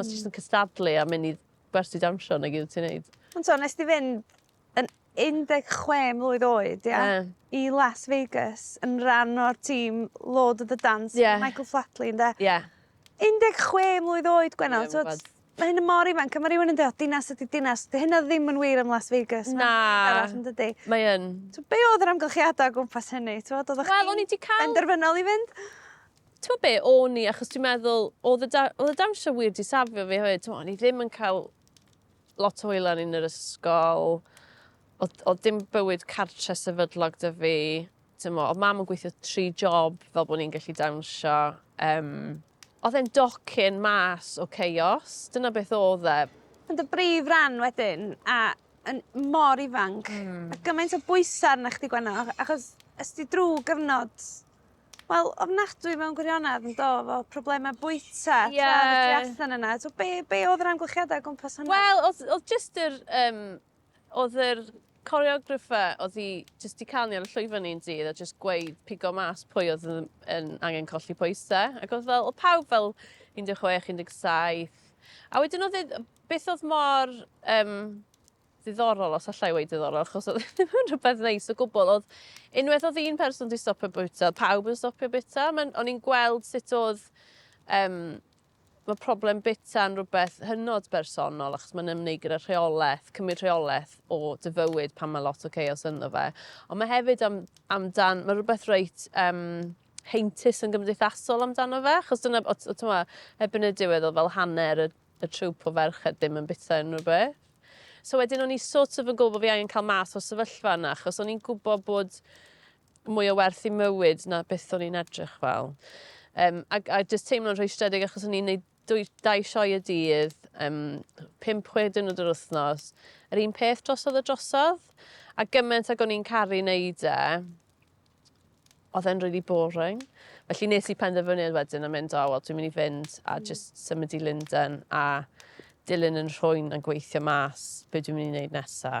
Os ti jyst yn cystadlu a mynd i gwersi dawnsio nag yw ti'n neud. Ond t'o' nes di fynd yn 16 mlwydd oed ia? Ie. I Las Vegas yn ran o'r tîm Lord of the Dance... Ie. ...Michael Flatley ynde? Ie. 16 mlwydd oed Gwenan t'wod ma' hyn yn mor ifanc a ma' rywun yn deu o dinas ydi dinas 'di hynna ddim yn wir am Las Vegas... Na. ...ma'n arall yndydi? Mae yn. So be' odd yr amgylchiada o gwmpas hynny t'mod oddach chdi'n... Wel o'n i 'di ca'l... ...benderfynol i fynd? T'mo' be', o'n i, achos dwi'n meddwl, oedd y, da, oedd y dawnsio wir di safio fi hefyd, t'mo', o'n i ddim yn cael lot o wylan yn yr ysgol, oedd, oedd dim bywyd cartre sefydlog dy fi, t'mo', oedd mam yn gweithio tri job fel bod ni'n gallu dawnsio, um, oedd e'n docyn mas o chaos. Dyna beth oedd e. Ond y brif ran wedyn, a yn mor ifanc, mm. a gymaint o bwysau arna chdi gwenno, achos ysdi drwy gyfnod Wel ofnadwy mewn gwirionedd yndo efo probleme bwyta... Ie. ...tra odd y tu allan yna t'o' be' be' odd yr amgylchiada o gwmpas hwnna? Wel odd odd jyst yr yym odd yr choreographer odd 'i jyst 'di canu ar y llwyfan ni un dydd a jyst gweud pigo mas pwy odd yn yn angen colli pwyse ac odd fel odd pawb fel un de' chwech un deg saith a wedyn odd e yy beth odd mor yym ddiddorol, os allai wedi ddiddorol, achos oedd ddim yn rhywbeth neis o gwbl. Oedd unwaith oedd un person wedi stopio bwyta, pawb yn stopio bwyta. O'n i'n gweld sut oedd um, mae problem bita yn rhywbeth hynod bersonol achos mae'n ymwneud gyda rheolaeth, cymryd rheolaeth o dy fywyd pan mae lot o chaos ynddo fe. Ond mae hefyd am, amdan, mae rhywbeth reit um, heintus yn gymdeithasol amdano fe, achos dyna, o, o, tyma, ebyn y diwedd o fel hanner y y trwp o ferched ddim yn bita unrhyw beth. So wedyn o'n i sort of yn gwybod bod fi angen cael mas o sefyllfa yna, achos o'n i'n gwybod bod mwy o werth i mywyd na beth o'n i'n edrych fel. Um, a, a jyst teimlo'n rhwystredig achos o'n i'n neud dwy, dau sioe y dydd, um, 5-6 diwrnod yr wythnos, yr un peth drosodd y drosodd, a gymaint ag o'n i'n caru neud e, oedd e'n really boring. Felly nes i penderfyniad wedyn a mynd, o, wel, dwi'n mynd i fynd a mm. just symud i Linden a dilyn yn rhwy'n yn gweithio mas be dwi'n mynd i wneud nesa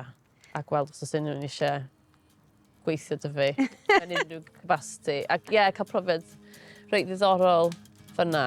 a gweld os oes unrhyw'n eisiau gweithio dy fi yn unrhyw capacity. Ac ie, yeah, cael profiad reit ddiddorol fyna.